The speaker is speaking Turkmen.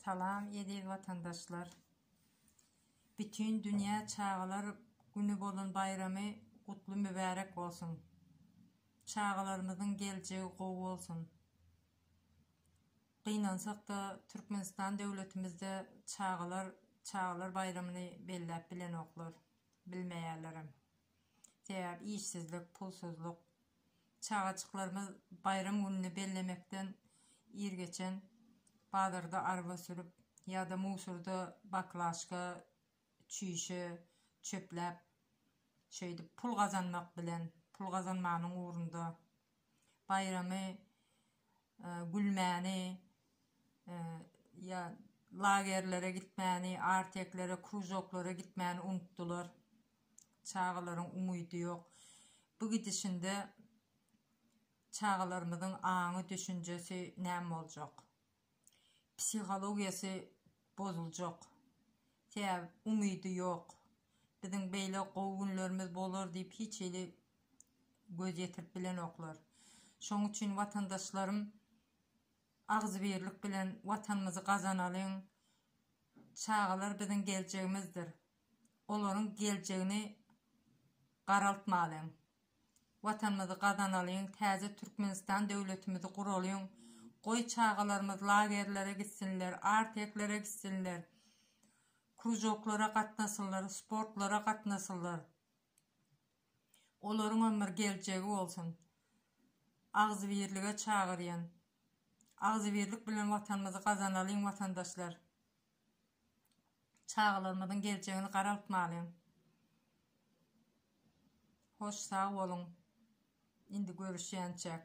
Salam eziz watandaşlar! Bütin dünýä çagalar güni bolan baýramy gutly mübärek bolsun! Çagalarymyzyň geljegi gowy bolsun! Gynansak-da Türkmenistan döwletimizde çagalar çagalar baýramyny belläp bilenoklar, bilmeýärlerem. Sebäbi işsizlik, pulsuzlyk. Çagajyklarymyz baýram gününi bellemekden ir geçen bazarda arba sürüp ýa-da musorda baklažka, çüýşe çöpläp, şeýdip pul gazanmak bilen, pul gazanmanyň ugrunda baýramy gülmäni ýa lagerlere gitmäni, arteklere, kruzoklara gitmäni unutdylar. Çagalaryň umydy ýok. Bu gidişinde çagalarymyzyň aňy, düşünjesi näme boljak? psihologiýasy bozuljak. Sebäbi umydy ýok. Biziň beýle gowy günlerimiz bolar diýip hiç hili göz ýetirip bilenoklar. Şoň üçin watandaşlarym agzybirlik bilen watanymyzy gazanalyň. Çagalar biziň geljegimizdir. olaryň geljegini garaltmalyň. Watanymyzy gazanalyň, täze Türkmenistan döwletimizi guralyň, goý çagalarymyz lagerlere gitsinler, arteklere gitsinler, krujoklara gatnasynlar, sportlara gatnasynlar. Olaryňam bir geljegi bolsun. Agzybirlige çagyrýan. Agzybirlik bilen Watanymyzy gazanalyň watandaşlar. Çagalarymyzyň geljegini garaltmaly. Hoş sag boluň. Indi görüşýänçäk.